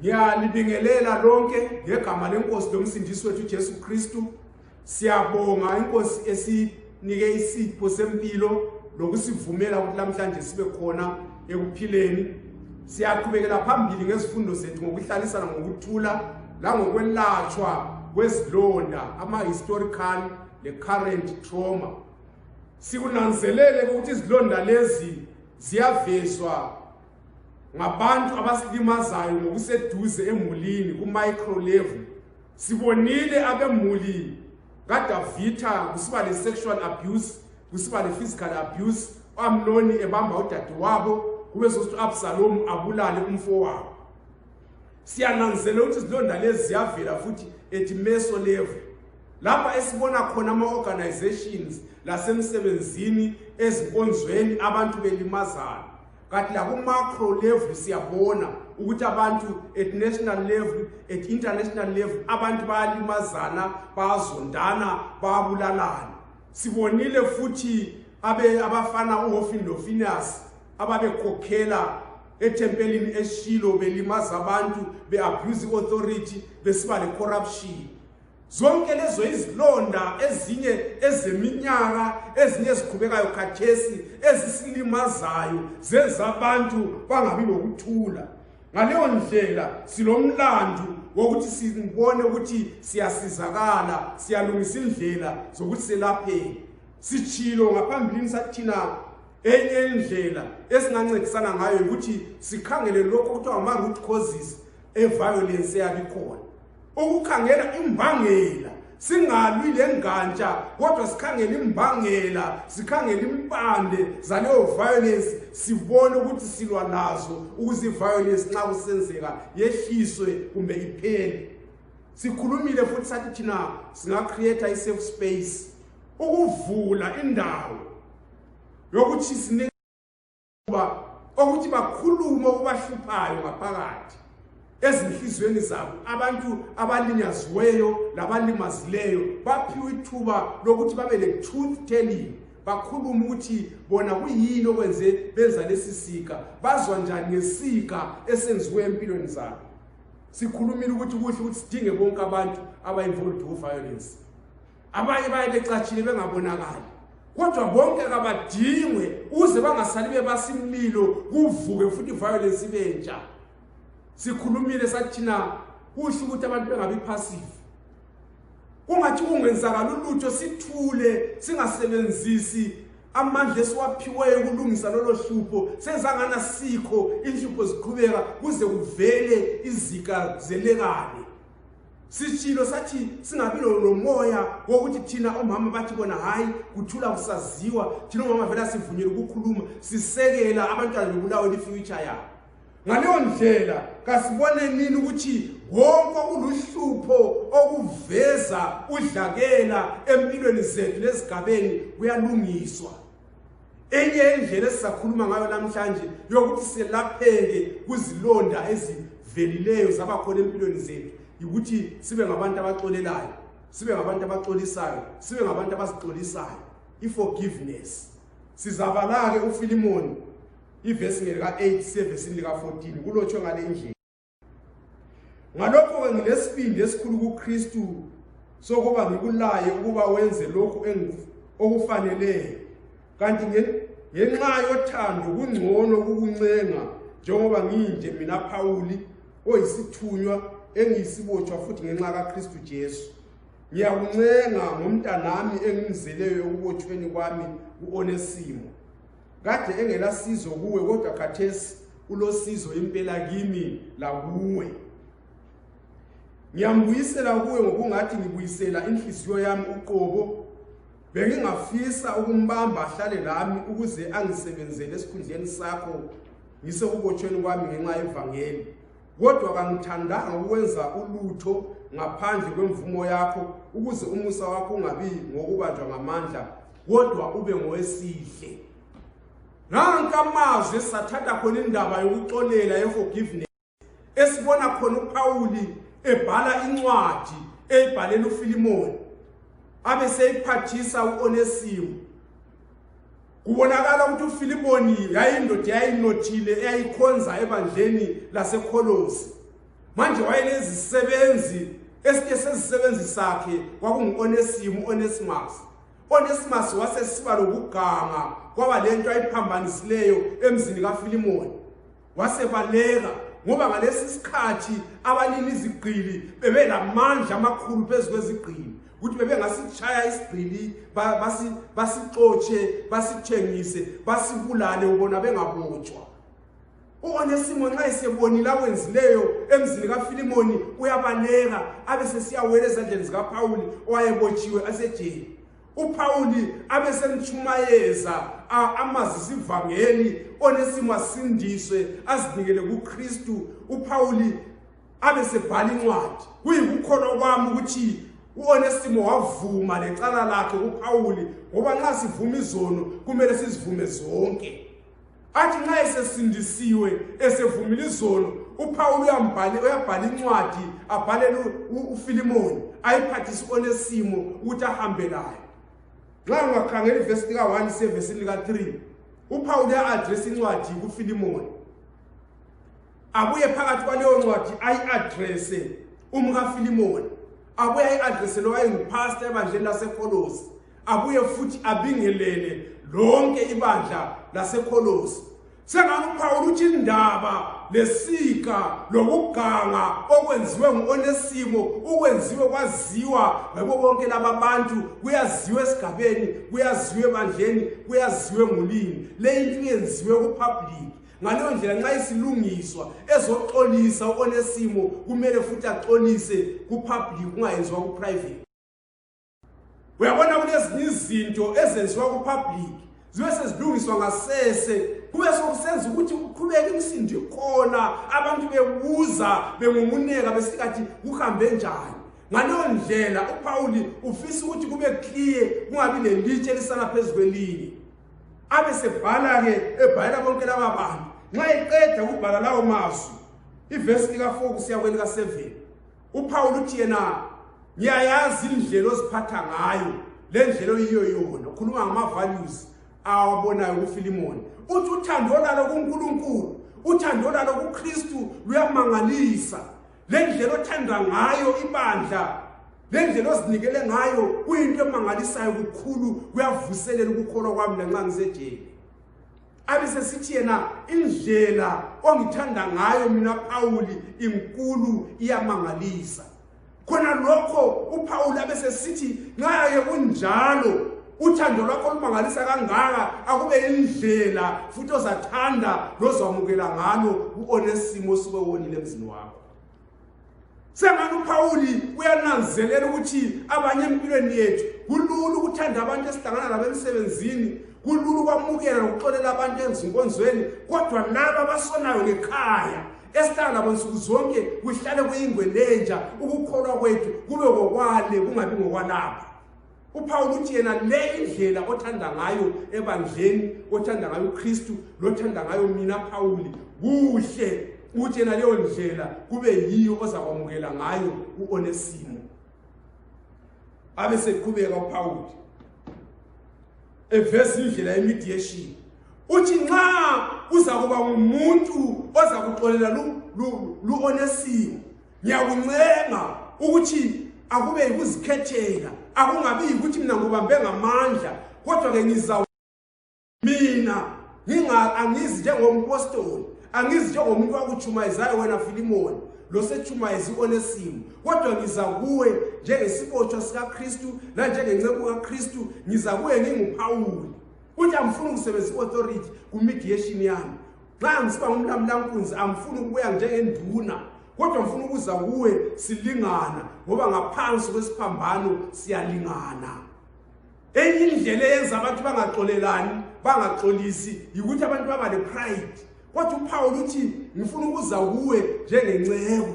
ngiyalibingelela lonke ngegama lenkosi lomsindisi wethu ujesu kristu siyabonga inkosi esi nike isipho sempilo lokusivumela ukuthi namhlanje sibe khona ekuphileni siyaqhubekela phambili ngezifundo zethu ngokuhlalisana ngokuthula langokwelatshwa kwezilonda ama-historical le-current trauma sikunanzelele ukuthi izilonda lezi ziyavezwa ngabantu abasilimazayo ngokuseduze emulini ku-micro level sibonile abemuli kadavitha kusiba le-sexual abuse kusiba le-physical abuse u-amnoni ebamba udadewabo kube sokuthi u-absalomu abulale umfowabo siyananzela ukuthi izilonda lezi ziyavela futhi ethi meso level lapha esibona khona ama-organizations lasemsebenzini ezinkonzweni abantu belimazana kanti lakumacro level siyabona ukuthi abantu at national level at international level abantu bayalimazana bayazondana bayabulalana sibonile futhi abe abafana uHofin noFinas ababekhokhela ethempelini eShilo belimaza abantu beabuse authority besiba le corruption zonke lezo izilonda ezinye ezeminyaka ezinye eziqhubekayo khathesi ezisilimazayo zenza abantu bangabi lokuthula ngaleyo ndlela silomlandu wokuthi sibone ukuthi siyasizakala siyalungisa indlela zokuthi selapheke sitshilo ngaphambilini sathina enye indlela esingancedisana ngayo ukuthi sikhangele lokho kuthiwa ama-root causes eviolence eyabikhona ukukhangela imbangela singalwi le ngantsha kodwa sikhangele imbangela sikhangele impande zaleyo violence sibone ukuthi silwa nazo ukuze i-violence nxa kusenzeka yehliswe kumbe iphele sikhulumile futhi sathi thina singacreata i-safe space ukuvula indawo yokuthi kuba okuthi bakhulume okubahluphayo ngaphakathi ezinhliziyweni zabo abantu abalinyaziweyo labalimazileyo baphiwe ithuba lokuthi babe le-truth telling bakhulume ukuthi bona kuyini okwenze benza lesi sika bazwa njani ngesika esenziwe empilweni zabo sikhulumile ukuthi kuhle ukuthi sidinge bonke abantu abayinvolved ku-violence abanye baye becatshile bengabonakali kodwa bonke kabadingwe uze bangasali bebasimlilo kuvuke futhi violence ibentsha sikhulumile sathina kusho ukuthi abantu bengabi passive kungathi kungenzakala ulutho sithule singasebenzisi amandla esiwaphiweyo ukulungisa lolo hlupho senzangana sikho inhlupho ziqhubeka kuze kuvele izika zelekane sishilo sathi singabi lomoya wokuthi thina omama bathi bona hhayi kuthula kusaziwa thina omama vele asivunyele ukukhuluma sisekela abantwana bebulawe lifuture yabo ngaleyo ndlela kasibone nini ukuthi wonke okuluhlupho okuveza udlakela empilweni zethu nezigabeni kuyalungiswa enye indlela esizakhuluma ngayo namhlanje yokuthi selapheke kuzilonda ezivelileyo zaba khona empilweni zethu yikuthi sibe ngabantu abaxolelayo sibe ngabantu abaxolisayo sibe ngabantu abazixolisayo i-forgiveness sizabala-ke ufilimoni ivesi ngelika-8 sevesini lika-14 kulotshwe ngale ndlela ngalokho-ke ngilesibindi esikhulu kukristu sokuba ngikulaye ukuba wenze lokhu okufaneleyo kanti ngenxa yothando kungcono kukuncenga njengoba ngiyinje mina phawuli oyisithunywa engiyisibotshwa futhi ngenxa kakristu jesu ngiyakuncenga ngomntanami engimzeleyo ekubotshweni kwami u-onesimo kade engelasizo kuwe kodwa khathesi ulosizo impela kimi lakuwe ngiyambuyisela kuwe ngokungathi ngibuyisela inhliziyo yami uqobo bengingafisa ukumbamba ahlale lami ukuze angisebenzele esikhundleni sakho ngisekubotshelweni kwami ngenxa yevangeli kodwa kangithandanga ukwenza ulutho ngaphandle kwemvumo yakho ukuze umusa wakho ungabi ngokubanjwa ngamandla kodwa ube ngowesihle nanka amazwi esathatha khona indaba yokuxolela yeforgiveness esibona khona upawuli ebhala incwadi eyibhalela ufilimoni abe seyiphathisa u-onesimo kubonakala ukuthi ufilimoni yayindoda yayinothile eyayikhonza ebandleni lasekholosi manje wayelezisebenzi esinye sezisebenzi sakhe kwakungu-onesimu u-onesimus onesimus wasesiba lokuganga kwaba le nto ayiphambanisileyo emzini kafilimoni wasebaleka ngoba ngalesi sikhathi abalimi izigqili bebelamandla amakhulu phezu kwezigqili ukuthi bebengasishaya isigqili basixotshe basithengise basibulale ubona bengabotshwa uonesimo nxa esebonile akwenzileyo emzini kafilimoni uyabaleka abe sesiyawela ezandleni zikapawuli owayebotshiwe asejeni uPawuli abesemtshumayeza amazisa ivangeli onesimo asindiswe azinikele kuKristu uPawuli abesebhala incwadi kuyikukholwa kwami ukuthi uOnesimo wavuma lecala lakhe kuPawuli ngoba nxa sivuma izono kumele sizivume zonke athi nxa esesindisiwe esevumile izono uphawulu uyabhala incwadi abhalele ufilimoni ayiphathise onesimo ukuthi ahambe layo nxa ungakhangela ivesi lika-one sevesini lika-three uphawulu uya-adresa incwadi kufilimoni abuye phakathi kwaleyo ncwadi ayi-adrese umkafilimoni abuye ayi-adrese lowayenguphasta ebandleni lasekholosi abuye futhi abingelele lonke ibandla lasekholosi sengani uphawula ukuthi indaba lesika lokuganga okwenziwe ngu-onesimo ukwenziwe kwaziwa ngabo bonke laba bantu kuyaziwa esigabeni kuyaziwa ebandleni kuyaziwa engulini le into yenziwe kupublic ngaleyo ndlela nxa isilungiswa ezoxolisa u-onesimo kumele futhi axolise kupublic kungayenziwa kuprivate uyabona kulezinye izinto ezenziwa kupublic zibe sezilungiswa ngasese kube sokusenza ukuthi kuqhubeke imsindo khona abantu bebuza bengumuneka besikathi kuhambe njani ngaleyo ndlela upawuli ufisa ukuthi kube kliye kungabi lelitshe elisana phezu kwelinye abe sebhala-ke ebhalela bonke laba bantu nxa eqeda ukubhala lawo mazwi ivesi lika-4 kusiya kwelika-7 uphawula uthi yena ngiyayazi indlela oziphatha ngayo le ndlela oyiyo yona ukhuluma ngama-values awabonayo kufilimoni uthi uthando lalo kunkulunkulu uthando lalo kukristu luyamangalisa le ndlela othanda ngayo ibandla le ndlela ozinikele ngayo kuyinto emangalisayo kukhulu kuyavuselela ukukholwa kwami lanxa ngisejeni abe sesithi yena indlela ongithanda ngayo mina pawuli inkulu iyamangalisa khona lokho upawuli abe sesithi nxa ye kunjalo uthando lwakho olumangalisa kangaka akube indlela futhi ozathanda lozamukela ngalo uonesimo osuke wonile emzini wakho sengani uphawuli uyananzelela ukuthi abanye empilweni yethu kulula ukuthanda abantu esihlangana labo emsebenzini kulula ukwamukela nokuxolela abantu ezinkonzweni kodwa laba abasonayo ngekhaya esihlala labo nsuku zonke kuhlale kuyingwe lenja ukukholwa kwethu kube ngokwale kungabi ngokwalapha uphawula ukuthi yena le indlela othanda ngayo ebandleni othanda ngayo ukristu lothanda ngayo mina phawuli kuhle ukuthi yena leyo ndlela kube yiyo ozakwamukela ngayo u-onesimo abe seqhubeka uphawuli eveza indlela yemediation uthi nxa uzakuba ngumuntu ozakuxolela lu-onesimo ngiyakuncenga ukuthi akube yikuzikhethela akungabi yikuthi mina ngubambe ngamandla kodwa-ke ngiza mina angizi njengompostoli angizi njengomuntu wakutshumayezayo wena filimoni losetshumayezi onesimo kodwa ngiza kuwe njengesibotshwa sikakristu nanjengenceku kakristu ngiza kuwe nginguphawuli ukuthi angifuni ukusebenzisa i-authority ku-mediation yami nxa ngisiba ngumlamulankunzi angifuni ukubuya njengenduna kodwa ngifuna ukuza kuwe silingana ngoba ngaphansi kwesiphambano siyalingana enye indlela eyenza abantu bangaxolelani bangaxolisi yikuthi abantu baba le-pride kodwa uphawula ukuthi ngifuna ukuza kuwe njengenceku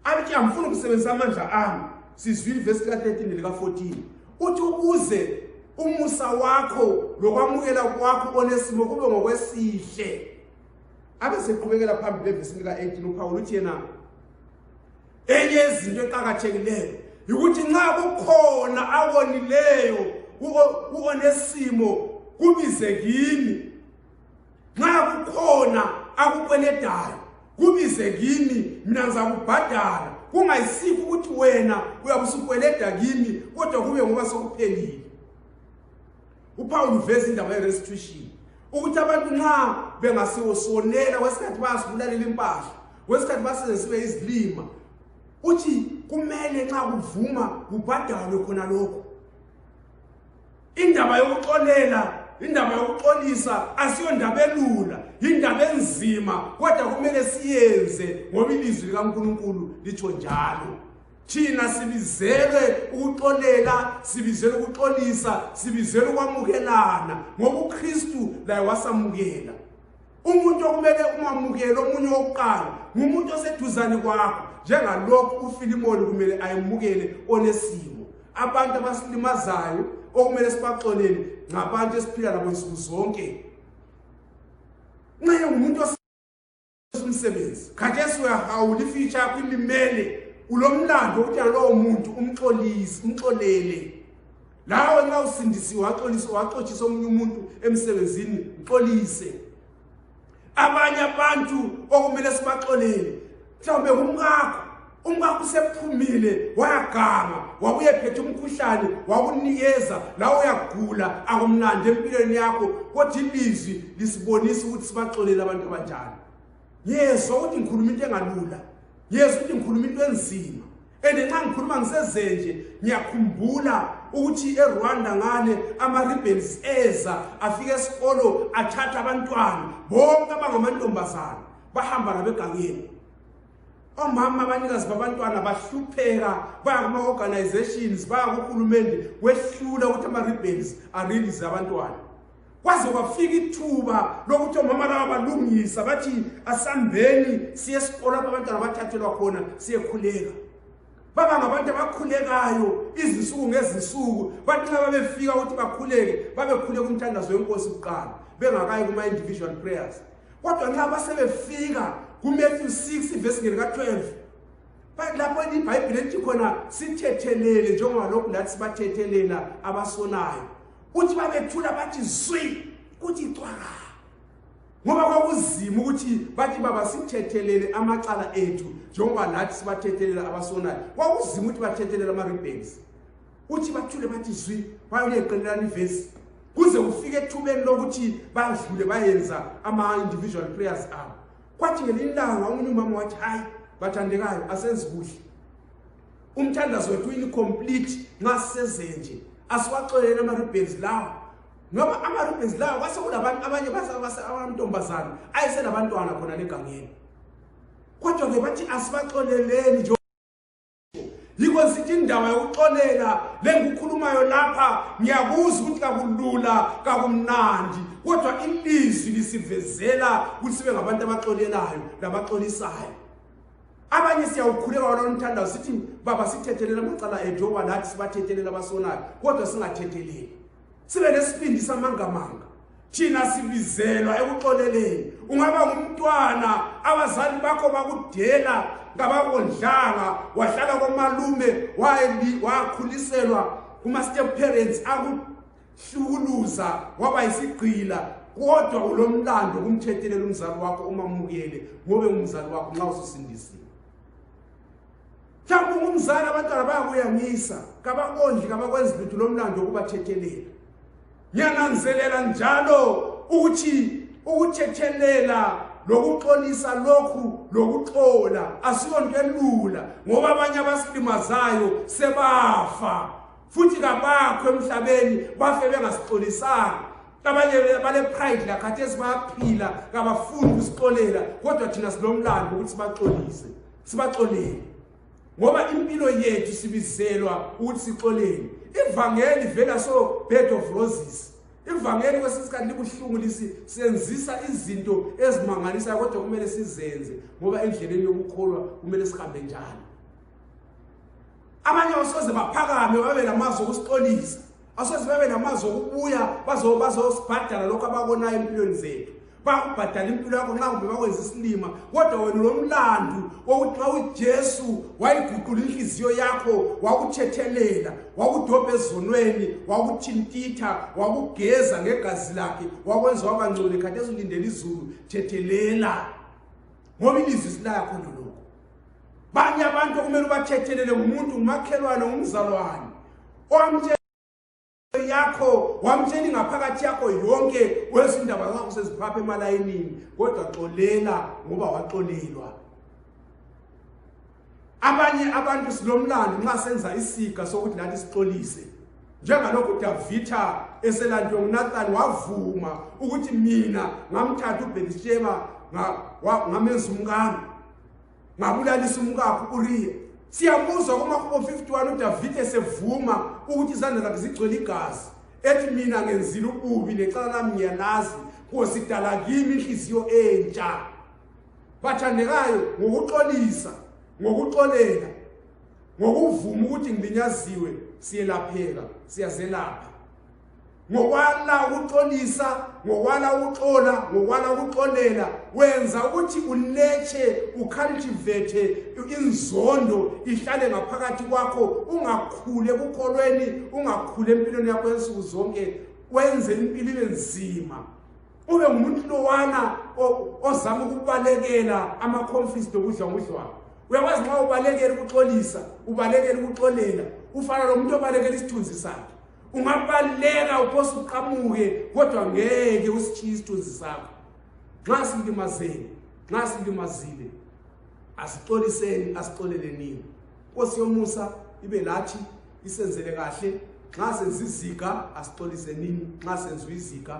abethi angifuni ukusebenzisa amandla ami sizwile ivesi lika-13 nelika-14 uthi ukuze umusa wakho lokwamukela kwakho onesimo kube ngokwesihle abe seqhubekela phambili evesi lika-18 uphawula uthi yena enye yezinto eqakathekileyo yikuthi nxa kukhona akonileyo kuonesimo kubize kimi nxa kukhona akukweledayo kubize kimi mina ngizakubhadala kungayisikho ukuthi wena uyabe usukweleda kimi kodwa kube ngoba sokuphelile upawulu uveza indaba ye-restitution ukuthi abantu nxa bengasiwosonela kwesikhathi bayasibulalela impahla kwesikhathi basenzesibe izilima uthi kumele nxa kuvuma kubhadalwe khona lokho indaba yokuxolela indaba yokuxolisa asiyondaba elula yindaba enzima kodwa kumele siyenze ngoba ilizwi likankulunkulu litsho njalo thina sibizelwe ukuxolela sibizelwe ukuxolisa sibizelwe ukwamukelana ngoba ukristu laye wasamukela umuntu okumele umamukele omunye wokuqala ngumuntu oseduzane kwakho njengalokhu ufilimoni kumele ayemukele onesimo abantu abasilimazayo okumele sibaxolele ngabantu esiphila nabo nsuku zonke nxa engumuntu umsebenzi khathesi uyahawula ifitsha yakho ilimele ulomlando wokuthi yalowo muntu umxolisi umxolele lawe nxa usindisiwe waxolisa waxotshisa omunye umuntu emsebenzini mxolise abanye abantu okumele sibaxolele mhlawumbe kumkakho umkakho usephumile wayaganga wabuye phethe umkhuhlane wakunikeza lawe uyagula akumlandi empilweni yakho kodwa ilizwi lisibonisa ukuthi sibaxolele abantu abanjani ngiyezwa ukuthi ngikhuluma into engalula ngiyezwa ukuthi ngikhuluma into enzima and nxa ngikhuluma ngisezenje ngiyakhumbula ukuthi erwanda ngale ama-ribbons eza afika esikolo athatha abantwana bonke abangamantombazana bahamba nabegangeni omama abanikazi babantwana bahlupheka baya kuma-organizations baya kuhulumende kwehlula ukuthi ama-ribbons arelease abantwana kwaze kwafika ithuba lokuthi omama laba balungisa bathi asambeni siye esikolo apho abantwana bathathelwa khona siyekhuleka baba ngabantu abakhulekayo izinsuku ngezinsuku bathi nxa babefika ukuthi bakhuleke babekhuleka umthandazo wenkosi kuqala bengakayi kuma-individual prayers kodwa nxa basebefika kumatthew 6 ivesi ngeli ka-12 lapho ibhayibhile lithi khona sithethelele njengoba lokhu lathi sibathethelela abasonayo kuthi babethula bathi zwi kuthi cwaka ngoba kwakuzima ukuthi bathi baba sithethelele amacala ethu njengoba nathi sibathethelela abasonayo kwakuzima ukuthi bathethelela ama-rebens uthi bathule bathi zwi bayoleqelelana ivesi kuze kufike ethubeni lokuthi badlule bayenza ama-individual prayers abo kwathi ngelinye ilanga omunye umama wathi hhayi bathandekayo asenzi kuhle umthandazo wethu incomplete nxa sisezenje asiwaxolele ama-ribbons lawa ngoba ama-ribbons lawa kwase kulabantu abanye abantombazana ayeselabantwana khona legangeni kodwa-ke bathi asibaxoleleni nje yikho sithi indaba yokuxolela lengukhulumayo lapha ngiyakuzwa ukuthi kakulula kakumnandi kodwa ilizwi lisivezela ukuthi sibe ngabantu abaxolelayo labaxolisayo abanye siyawukhuleka walona umthandazo sithi baba sithethelela amacala ethu oba nathi sibathethelela abasonayo kodwa singathetheleli sibe nesibindi samangamanga thina sibizelwa ekuxoleleni ungaba ngumntwana abazali bakho bakudela ngabakondlanga wahlala komalume wakhuliselwa kuma-step parents hlukuluza waba yisigqila kodwa ulomlando kumthethelela umzali wakho uma mukele ngobe umzali wakho nxa ususindisiwe mhlawumbe ungumzali abantwana bayakuyangisa kabakondli kabakwenzi lutho lomlando wokubathethelela ngiyananzelela njalo ukuthi ukuthethelela lokuxolisa lokhu lokuxola asiyonto elula ngoba abanye abasilimazayo sebafa futhi kabakho emhlabeni bafe bengasixolisanga abanye bale-pride lakhathesi bayaphila kabafuni ukusixolela kodwa thina silomlando ukuthi sibaxolise sibaxolele ngoba impilo yethu sibizelwa ukuthi sixolele ivangeli vela so bed of roses ivangeli kwesinye isikhathi libuhlungu lisi senzisa izinto ezimangalisayo kodwa kumele sizenze ngoba endleleni yokukholwa kumele sihambe njalo abanye basoze baphakame babe lamazwi okusixolisa basoze babe namazwi okubuya bazosibhadala lokho abakonayo empilweni zethu bakubhadala impilo yakho nxa kumbe bakwenza isilima kodwa wena ulomlandu wokuthi xa ujesu wayiguqula inhliziyo yakho wakuthethelela wakudobha ezonweni wakuthintitha wakugeza ngegazi lakhe wakwenza wabangcole khathi ezulindela izulu thethelela ngoba ilizwi silaya khona lokho banye abantu okumele ubathethelele ngumuntu ngumakhelwane ngumzalwane owamtshela yakho wamtshela ingaphakathi yakho yonke wezindaba zakho seziphapha emalayinini kodwa xolela ngoba waxolelwa abanye abantu silomlando nxa senza isiga sokuthi nathi sixolise njengalokhu udavitha eselandwe ngunathani wavuma ukuthi mina ngamthatha ubhelisheba ngamenza umkami ngabulalisa umkakho uriya siyamuzwa kumahubo 51 udavide esevuma ukuthi izandla zakhe zigcwele igazi ethi mina ngenzile ububi necala lami ngiyalazi nkosi dala kimi inhliziyo entsha bathandekayo ngokuxolisa ngokuxolela ngokuvuma ukuthi ngilinyaziwe siyelapheka siyazelapha ngokwala ukuxolisa ngokwala ukuxola ngokwala ukuxolela wenza ukuthi uletshe ucultivate inzondo ihlale ngaphakathi kwakho ungakhule kukholweni ungakhule empilweni yakho ensuku zonke wenze impilo ibe nzima ube ngumuntu lowana ozama ukubalekela ama-confist okudla ngudlwana uyakwazi nxa ubalekela ukuxolisa ubalekela ukuxolela ufana lo muntu obalekela isithunzi sakhe ungabaleka uphose uqamuke kodwa ngeke usitshiye isithunzi sakho nxa silimazeni nxa silimazile asixoliseni asixolelenini nkosi yomusa ibe lathi isenzele kahle nxa senza iziga asixolisenini nxa senziwa iziga